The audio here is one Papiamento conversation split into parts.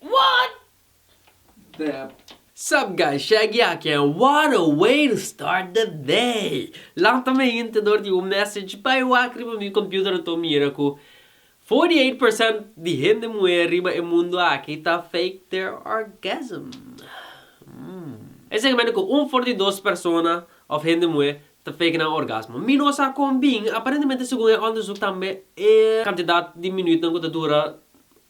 What? Dep. Sup guys, Shaggy aki en what a way to start the day! Lanta mi hint dor di un message bai wak riba mi computer anto mira cu forty eight percent di hende muher riba e mundo aki ta fake their orgasm. Hmmm. Esaki mende cu un for di dos persona of hende muhe ta fake nan orgasmo. Mi no sa kon bin, aparentemente segun e onderzoek tambe e kantidat di minuutnan ku ta dura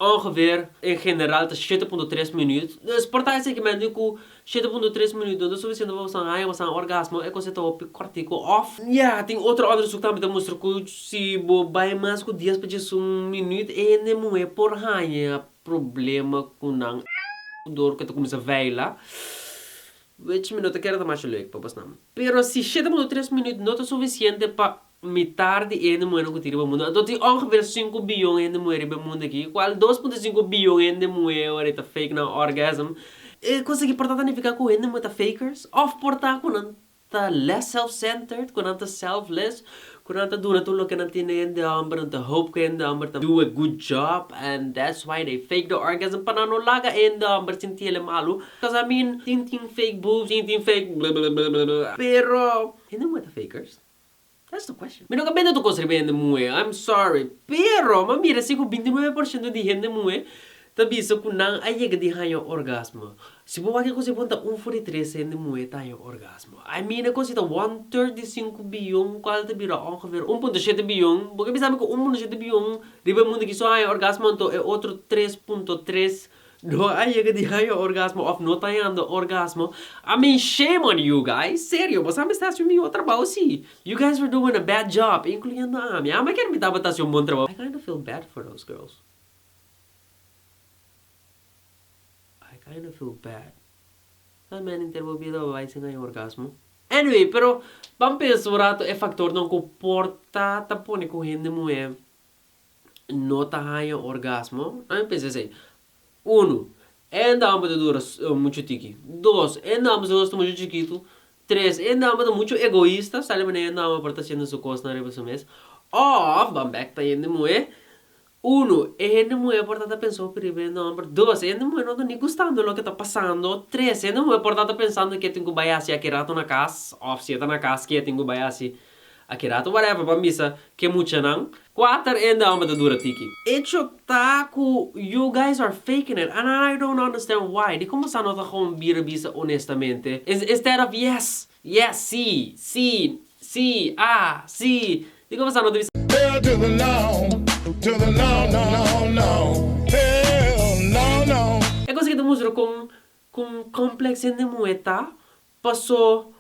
ongeveer en general ta shete punto tres minuut. Dus por ta e segmento ku shete punto tres minuut no ta sufisiente pa boso haña boso nan orgasmo, e kos ei ta hopi kòrtiku òf. Ya, tin otro onderzoek tambe ta mustra ku si bo bai mas ku dies pa djes un minuut e hende muhé por haña problema ku nan dor ku e ta kuminsá vèila. Wech mi no ta kere ta masha leuk pa bosnan. Pero si shete muno tres minüt no ta sufisiente pa mitar di e hende muhénan ku tin riba mundu, anto tin ongevir sinku biyon hende muhé riba e mundu aki, di kual dos punto sinku biyon hende muhé ora e ta fake nan orgasm. E kos aki por ta ta nifiká ku hende muhé ta fakers òf por ta ku nan ta less self-centered, ku nan ta selfless, Cu nan ta duna tur loke nan tin den hende homber, nan ta hope cu hende homber ta do a good job and that's why they fake the orgasm pa nan no laga e hende homber sinti el'e malu, cos I mean tin tin fake boobs, tin tin fake blablabla, pero hende muhe ta fakers? That's the question. Mi no ta bende tur cos riba hende muhe, I'm sorry, pero mi a mira si cu binti nuebe por ciento di hende muhe Ta bisa cu nan a yega di haña orgasmo. Si bo wak e cosa ei bon ta un for di tres hende muhe ta haña orgasmo. I mean e cosa ei ta one third di sinku biyon cual ta bira ongeveer un punto shete biyon. Bo ke bisa mi cu un punto shete biyon riba e mundo aki so a haña orgasmo anto e otro tres punto tres no a yega di haña orgasmo of no ta hañando orgasmo. I mean shame on you guys. Serio bo sa mi sta haci un miho trabao si? You guys are doing a bad job incluyendo ami. Ami a kier mi tabata haci un bon trabao. I kinda feel bad for those girls. I kind of feel bad. Sa meni nter bo bida bo bai sin haña orgasmo? Anyway, pero ban pensa un rato e faktornan ku por ta ta pone ku hende muhé no ta haña orgasmo. Nan mi pensa esei, Unu, e hende amba ta dura muchu tiki. Dos, e hende amba su nos ta muchu chikitu. Tres, e hende amba ta muchu egoista, sa alimané e hende amba por ta hasiendo su kosnan riba su mes. Òf, ban bèk ta hende muhé Uno, e hende muhé por ta ta pensa hopi riba e nòmber. Dos, e hende muhé no ta ni gustando loke ta pasando. Tres, e hende muhé por ta ta pensando ke tin ku bai hasi aki rato na kas, òf si e ta na kas ke tin ku bai hasi aki rato. Whatever, ban bisa ke muchanan. Kuater, e hende hòmber ta dura tiki. Echo ta ku you guys are faking it and I don't understand why. Di komo sa no ta gewoon bira bisa onestamente? Instead of yes, yes, sí, sí, sí, ah, sí, Tin ku pasá no ta bisa. Hell to the no, to the no no no no Hell no no. E cosa ki ta mustra con con complex hende muhe ta, paso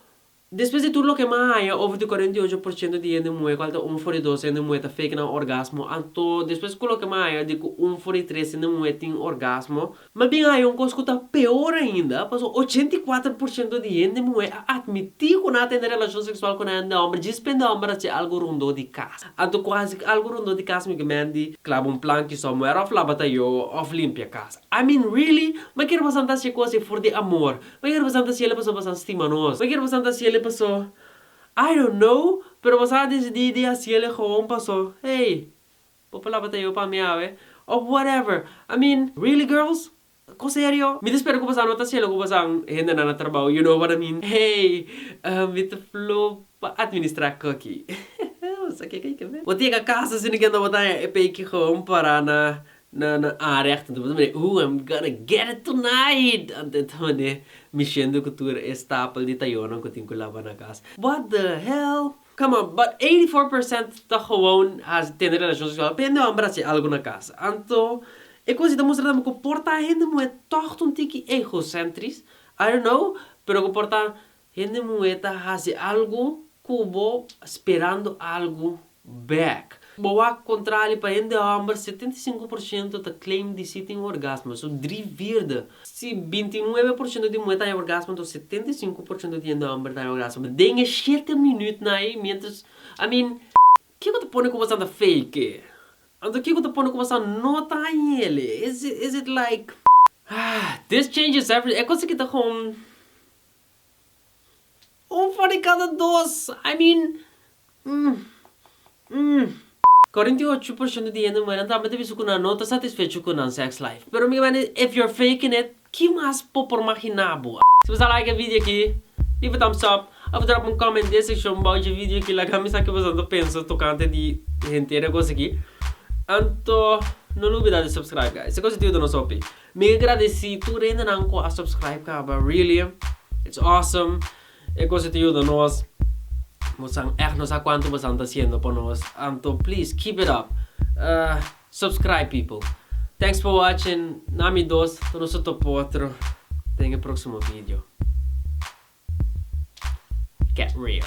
despues di tur loke mi a haña over di cuarenta y ocho por ciento di hende muhe cual ta un for di dos hende muhe ta fake nan orgasmo, anto despues cu loke mi a haña di cu un for di tres hende muhe tin orgasmo, Mas bien haya un cos cu ta peor ainda, pasobra ochenta i kuater por ciento di hende muher a admití cu nan a tende relacion sexual cu nan hende homber djis pende homber a haci algo rondó di cas. Anto cu a haci algo rondó di cas migomenti claba un plan ki somewhere of laba ta yo of limpia cas. I mean really? M'a kier pasan ta haci e cos ei for di amor? M'a kier pasan ta haci el'e pasobra pasan stima nos? M'a kier pasan ta haci el'e paso I don't know, pero pasan a decidí di haci el'e gewoon paso hey! Bo palabra ta yo pa mi awe? Of whatever. I mean, really girls? Ko serio? Mi ta spera ku boso a no ta celo ku boso a un hendenan na trabou, you know what I mean. Hey, mi ta flu pa administra Cookie. Boso ke kai kabes. Bo tega kasa sino kende bo ta haña e peiki gewoon para na na área aki. Bo ta mira, ooh, I'm gonna get it tonight! Anto e ta mane mi shendo ku tur e stapel di tayonan ku tin ku laba na kas. What the hell? Come on, but eighty four percent ta gewoon haci tene relacion sexual pa e no hambra haci algo na casa. Anto, e cos ei ta mustra tambe cu por ta hende muhe tog ta un tiki egocentris? I don't know, pero cu por ta hende muhe ta haci algo cu bo sperando algo back. Bo wak kontrali pa hende hòmber setenta i sinku por shento ta claim di si tin orgasmo, so dri virde. Si binti nuebe por shento di muhé ta haña orgasmo anto setenta i sinku por shento di hende hòmber ta haña orgasmo den e shete minutnan ei miéntras I mean. Ke ku ta pone ku bo san ta fake? Anto ke ku ta pone ku bo san no ta hañele? Is it like. This changes everything e kos aki ta kon. Un for di kada dos, I mean mm mm. Korenta i ocho por shento di hende muher nan tambe ta bisa ku nan no ta satisfecho ku nan sex life. Pero mi mane if you're faking it, ki mas bo por magina bo? Si bo sa like e video aki, leave a thumbs up of drop un comment den e sekshon bou dje video aki laga mi sa ke boso ta pensa tokante di henter e kos aki. Anto no lo obida di subscribe guys, e kos ta yuda nos hopi. Mi a gradeci tur hendenan cu a subscribe caba, really it's awesome, e cosa ta yuda nos, bosan echt no sa cuanto bosan ta haciendo pa nos, anto please keep it up, subscribe people, thanks for watching, na mi dos ta nos a topa otro den e proximo video, get real.